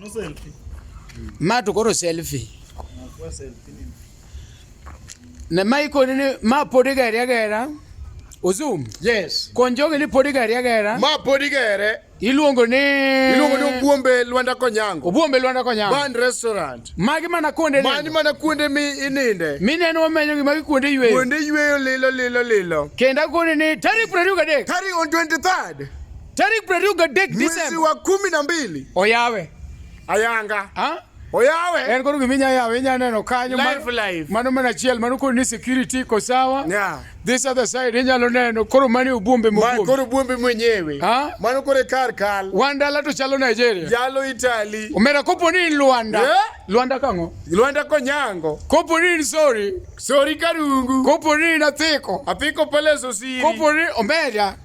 Ano selfie. Ma to koro selfie. Na kwa selfie ni. Ne mai ko ni ma podi ga ya ga Uzum. Yes. Konjoge ni podi ga ya ga Ma podi ga ya Iluongo ni Iluongo ni Obuombe Lwanda Konyango. Obuombe Lwanda Konyango. Band restaurant. Magi mana kuonde Mani mana kuonde mi ininde. Mi neno wamenyo gi magi kuonde yweyo. Kuonde yweyo lilo lilo lilo. Kenda kuonde ni tarik 23. Tarik on 23. Tarik prariyo gadek Mwezi Desemba wa kumi na mbili oyawe ayanga ha? oyawe en koro gima inya yawe inya neno kanyo Live, mano- live. mano mana achiel mano koro ni security iko sawa Yeah. this other side inyalo neno koro mani ubumbe Ma- mobumbe koro buombe mwenyewe Ha? mano koro e kar kal wan dala to chalo Nigeria jalo Italy omera kopo ni in Luanda Yeah. Luanda kang'o Luanda Konyango kopo ni in Sori Sori Karungu kopo ni in Athiko apiko pale Sosiri kopo ni omera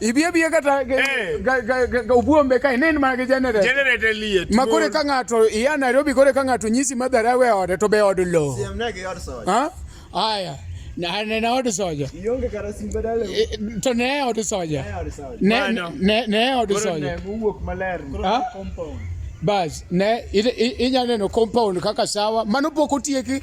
ibie bie kata eh. ga ubuombe kae nen mana gi generator generator liet ma kore ka ng'ato iya Nairobi kore ka ng'ato nyisi madhara e we ode to be od lo siemne gi od soja ha aya na ne na od soja ionge kara simbe dale eh, to ne od soja ne ne ne od soja ne wuok maler compound bas ne inya neno compound kaka sawa mano pok otieki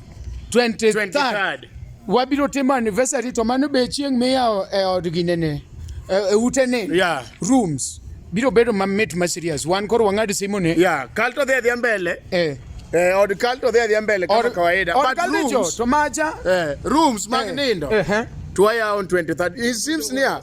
23rd wabiro timo anniversary to mano be chieng' miyawo e od ginene e, e ute ne yeah. rooms biro bedo mamit ma serious wan koro wang'ad simu ne yeah. kal to dhi adhiya mbele eh. Eh, od kal to dhi adhiya mbele kaka kawaida od kal rooms, to maja eh, rooms mag eh. nindo eh. eh. to waya on 23 it seems near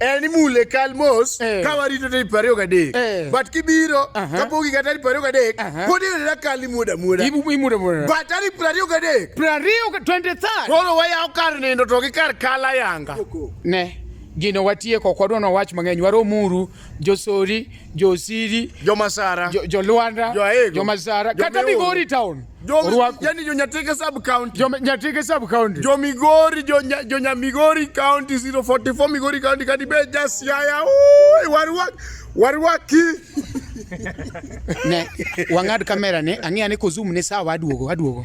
en imule kal mos eh. ka warito tarik piero ariyo gadek eh. but kibiro kapok higa tarik piero ariyo gadek pod iyudona kal imuodo amuoda but tarik piero ariyo gadek piero ariyo twenty third koro wayawo kar nindo to gi kar kal ayanga ne gino watieko ok wadwa nowach mang'eny waromuru josori Josiri, Jomasara, jo, jo Luanda, jo Aego, jo Masara, jo kata Migori town. Jo, yani jo Nyatike sub county. Jo Nyatike sub county. Jo Migori, jo, nya, jo nya Migori county 044 Migori county kadi be just yaya. Oi, warwak, warwaki. ne wang'ad kamera ne ang'eya ni kozum ne sawa aduogo aduogo